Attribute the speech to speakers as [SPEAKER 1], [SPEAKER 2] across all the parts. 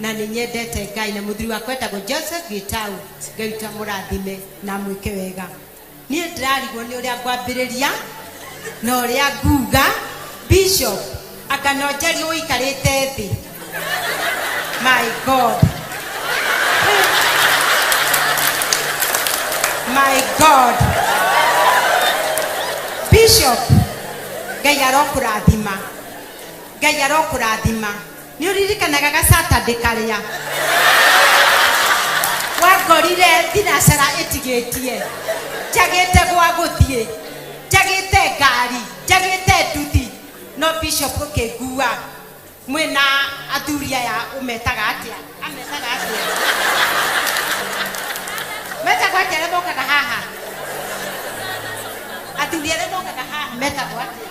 [SPEAKER 1] Na nĩ nyendete Ngai na mũthuri wakwa etagwo Joseph Gitau. Ngai to amũrathime na amwĩke wega. Niĩ ndĩrarigwo nĩ ũrĩa ngwambĩrĩria na ũrĩa nguga. Bishop, anga no njarie ũikarĩte thĩ? My God. My God. Bishop, Ngai arokũrathima. Ngai arokũrathima. Nĩ ũririkanaga ga Saturday karĩa wangorire thinacara ĩtigĩtie, njagĩte gwa gũthiĩ, njagĩte ngari, njagĩte nduthi, no Bishop ũkĩngua mwĩ na athuri aya ũmetaga atĩa? Ametaga atĩa? Metagwo atĩa arĩa mokaga haha? Athuri arĩa mokaga haha metagwo atĩa?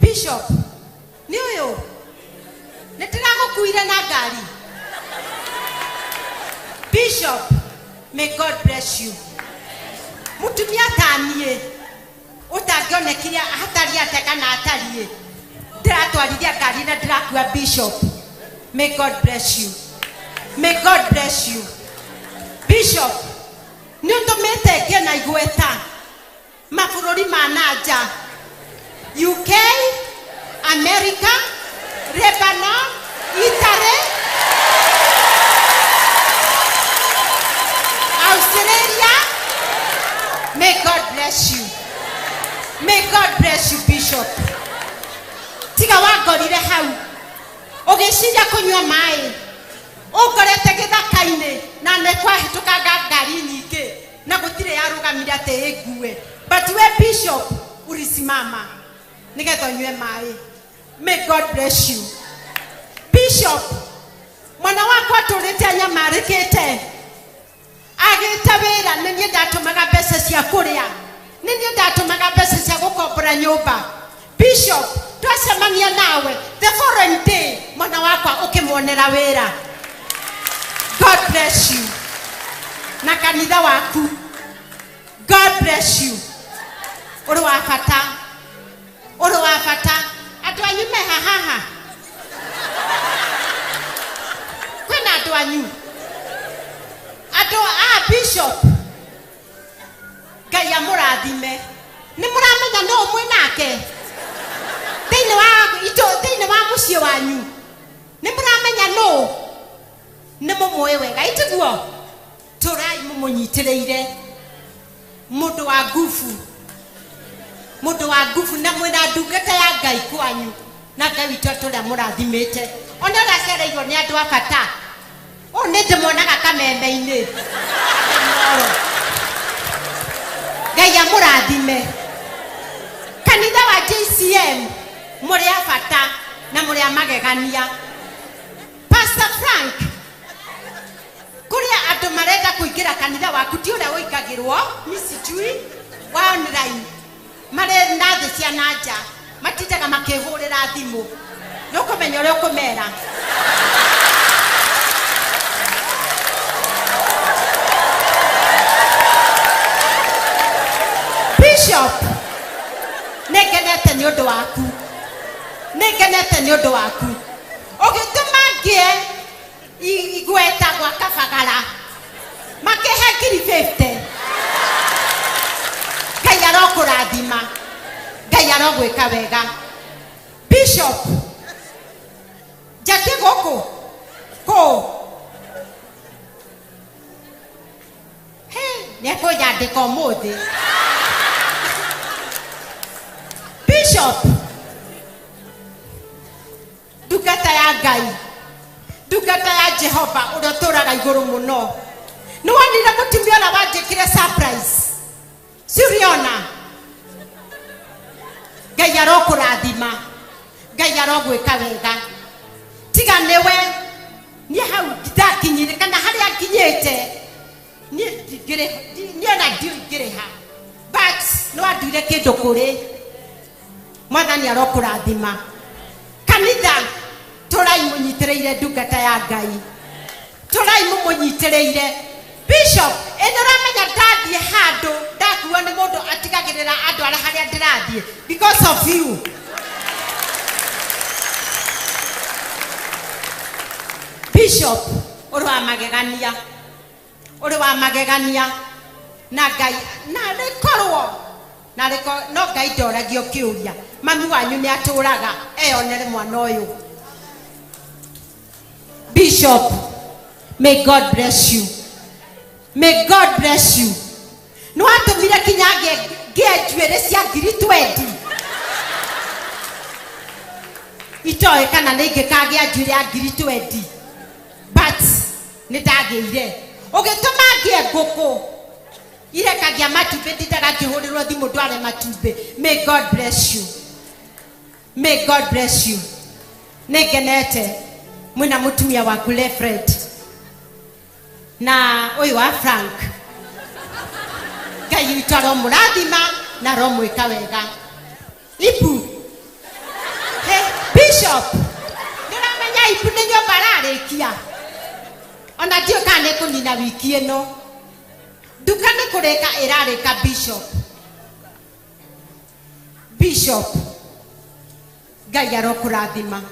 [SPEAKER 1] bishop nĩ ũyũ nĩ ndĩragũkuire na ngari bishop may god bless you mũtumia ta niĩ ũtangĩonekire hatari ate kana atariĩ ndĩratwarithia ngari na ndĩrakua bishop may god bless you may god bless you bishop nĩ ũtũmĩte ngĩe na igweta Mabũrũri ma na nja, UK, Amerika, Lebanon, Italy, Australia, may God bless you. May God bless you, Bishop. Tiga wangorire hau. Ũgĩciria kũnyua maĩ. Ũngorete gĩthaka-inĩ na nĩ kwahĩtũkanga ngari nyingĩ. na gũtirĩ yarũgamire atĩ ĩngue but we bishop ulisimama nĩgetha ũnyue maĩ may god bless you bishop mwana wakwa atũrĩte anyamarĩkĩte agĩte wĩra nĩ niĩ ndatũmaga mbeca cia kũrĩa nĩ niĩ ndatũmaga mbeca cia gũkombora nyũmba Bishop, twacemania nawe the following day mwana wakwa ũkĩmuonera wĩra. God bless you. Na kanitha waku. God bless you. Ũrĩ wa bata. Ũrĩ wa bata. Andũ anyu me ha haha. Kwĩna andũ anyu. Andũ a bishop ngai amũrathime nĩ mũramenya nũ mwĩ nake thĩinĩ wa itũ thĩinĩ wa mũciĩ wanyu nĩ mũramenya nũ nĩ mũmũĩ wega itiguo tũrai mũmũnyitĩrĩire mũndũ wa ngubu mũndũ wa ngubu na mwĩna ndungata ya ngai kwanyu na ngai witũ atũrĩa mũrathimĩte ona ũracereirwo nĩ andũ a bata Ũũ nĩ ndĩmuonaga kameme-inĩ. Inooro. Ngai amũrathime. Kanitha wa JCM mũrĩ a bata na mũrĩ a magegania. Pastor Frank, kũrĩ andũ marenda kũingĩra kanitha waku ti ũrĩa ũingagĩrwo, mi sijui, wa online. Marĩ na thĩ cia na nja, matindaga makĩhũrĩra thimũ. Nĩ ũkũmenya ũrĩa ũkũmera. Bishop, nĩ ngenete nĩ ũndũ waku. Nĩ ngenete nĩ ũndũ waku. Ũgĩtũma ngĩe Igweta gwa kabagara makĩhe ngiri fifty. Ngai arokũrathima. Ngai arogwĩka wega. Bishop, njatie gũkũ kũ Hey, nĩekũnyandĩka ũmũthĩ. Bishop, Ndungata ya Ngai, ndungata ya Jehova ũrĩa ũtũũraga igũrũ mũno. Nĩ wonire mũtumia ũrĩa wanjĩkire surprise? Si ũrĩona? Ngai arokũrathima. Ngai arogwĩka wega. Tiga nĩwe niĩ hau ndakinyire kana harĩa nginyĩte niĩ ndingĩrĩ- ndi- niĩ ona ndiũĩ ingĩrĩ ha but nĩ wanduire kĩndũ kũrĩ Mwathani arokũrathima. Kanitha, tũrai mũnyitĩrĩire ndungata ya Ngai. Tũrai mũmũnyitĩrĩire. Bishop, ĩ nĩũramenya ndathiĩ handũ ndakuo nĩ mũndũ atigagĩrĩra andwara harĩa ndĩrathiĩ because of you. Bishop, ũrĩ wa magegania. ũrĩ wa magegania na ngai narĩ korwo narĩ ko no ngai ndoragio kĩũria mami wanyu nĩ atũraga eyonere mwana ũyũ bishop may god bless you may god bless you nĩ watũmire kinya ngĩe ngĩe njuĩrĩ cia ngiri twendi itoĩ kana nĩ ingĩkagĩa njuĩrĩ ya ngiri twendi but Nĩ ndagĩire. Ũgĩtũma ngĩe ngũkũ irekagia matumbĩ ndindaga ngĩhũrĩrwo thimũ ndware matumbĩ. May God bless you. May God bless you. Nĩ ngenete mwĩna mũtumia waku Lefred na ũyũ wa Frank. Ngai witũ aromũrathima na aromwĩka wega. Ibu. Ĩ, Bishop, nĩ ũramenya Ibu nĩ nyũmba ararĩkia? O na ndiũĩ kana nĩ kũnina wiki ĩno. Nduka nĩ kũrĩka ĩrarĩka Bishop. Bishop, Ngai arokũrathima.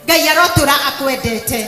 [SPEAKER 1] Ngai arotũra akwendete.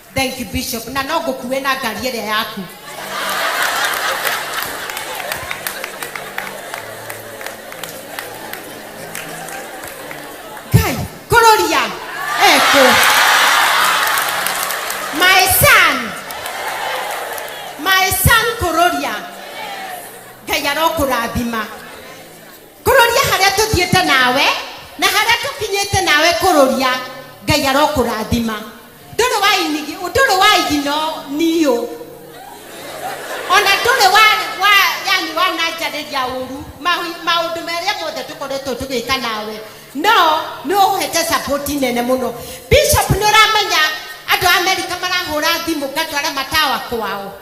[SPEAKER 1] Thank you Bishop. Na no ngũkue na ngari ĩrĩa yaku. Kai, kũrũria. Eko. My son. My son kũrũria. Ngai arokũrathima. Kũrũria harĩa tũthiĩte nawe na harĩa tũkinyĩte nawe kũrũria. Ngai arokũrathima. Ndũrĩ wa inigi, ndũrĩ wa igi no niũ. Ona ndũrĩ wa wa yani wananjarĩria ũru. Mahi maũndũ marĩa mothe tũkoretwo tũgĩka nawe. No nĩ ũhete support nene mũno. Bishop nĩ ũramenya andũ a America marahũra thimũ ngatwara matawa kwao.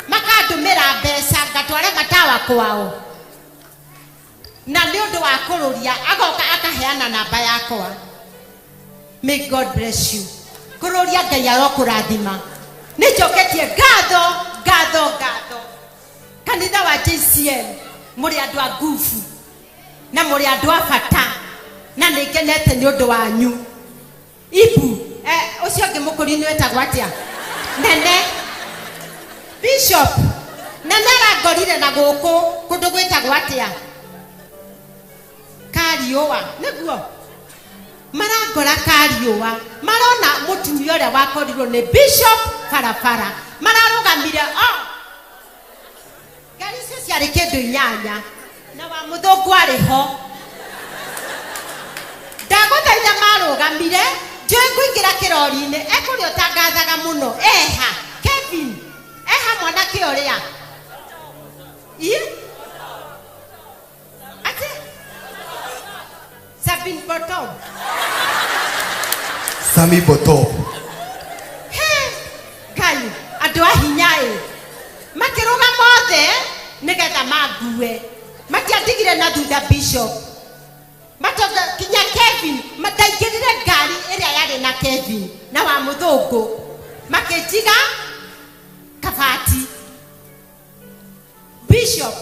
[SPEAKER 1] Makandũmĩra mbeca ngatwara matawa kwao. Na nĩ ũndũ wa kũrũria agoka akaheana namba yakwa may God bless you kũrũria Ngai arokũrathima nĩ njoketie ngatho ngatho ngatho kanitha wa JCM mũrĩ andũ a nguvu na mũrĩ andũ a bata na nĩ ngenete nĩ ũndũ wanyu Ibu, eh, ũcio ũngĩ mũkũri nĩ wĩtagwo atĩa? Nene. Bishop, Nene arangorire na gũkũ kũndũ gwĩtagwo atĩa? Kariũa, nĩguo? Marangora Kariũa, marona mũtumia ũrĩa wakorirwo nĩ Bishop barabara, mararũgamire o. Ngari icio ciarĩ kĩndũ inyanya. Na wa mũthũngũ arĩ ho. Ndagũthaitha marũgamire, njũĩ ngũingĩra kĩrori-inĩ. E kũrĩa ũtangathaga mũno. E ha? Kevin! E ha mwanake ũrĩa? Ii? Ati
[SPEAKER 2] Sabine
[SPEAKER 1] Bottom.
[SPEAKER 2] Sami
[SPEAKER 1] Botop. He, Ngai, andũ a hinya ĩ. Makĩrũga mothe nĩgetha mangue. Matiandigire na thutha Bishop. Matonga kinya Kevin, mataingĩrire ngari ĩrĩa yarĩ na Kevin na wa mũthũngũ. Makĩnjiga kabati. Bishop,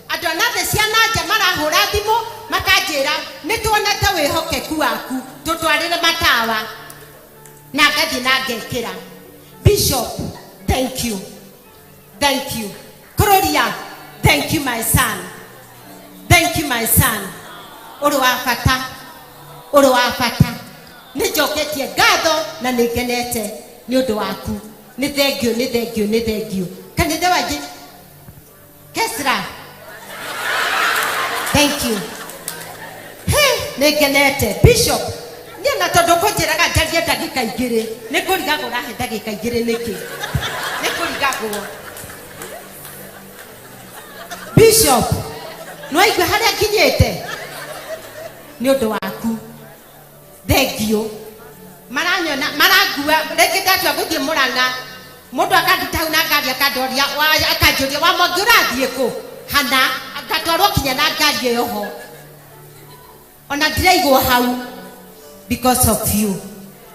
[SPEAKER 1] andũ a nathĩ cia na nja marahũra thimũ makanjĩra nĩtuonete wĩhokeku waku tũtwarĩre matawa na ngathiĩ na ngekĩra. Bishop, thank you, thank you. Kũrũria, thank you my son, thank you my son. Ũrĩ wa bata, ũrĩ wa bata. Nĩnjoketie ngatho na nĩngenete nĩũndũ waku. Nĩ thengiũ, nĩ thengiũ, nĩ thengiũ. Kanitha wa Je- Kesra. Thank you. Hey, nĩ ngenete. Bishop, niĩ ona tondũ kũnjĩraga njarie ndagĩka igĩrĩ, nĩ kũrigagwo ũrahe ndagĩka igĩrĩ nĩkĩ? Nĩ kũrigagwo. Bishop, nĩwaigua harĩa nginyĩte? Nĩ ũndũ waku. thengiũ maranyona marangua rĩngĩ ndatua gũthiĩ mũrang'a mũndũ akanduta hau na ngari akandoria wa- akanjũria wa mwangi ũrathiĩ kũ hana ngatwarwo kinya na ngari ĩyo ho ona ndiraigwo hau because of you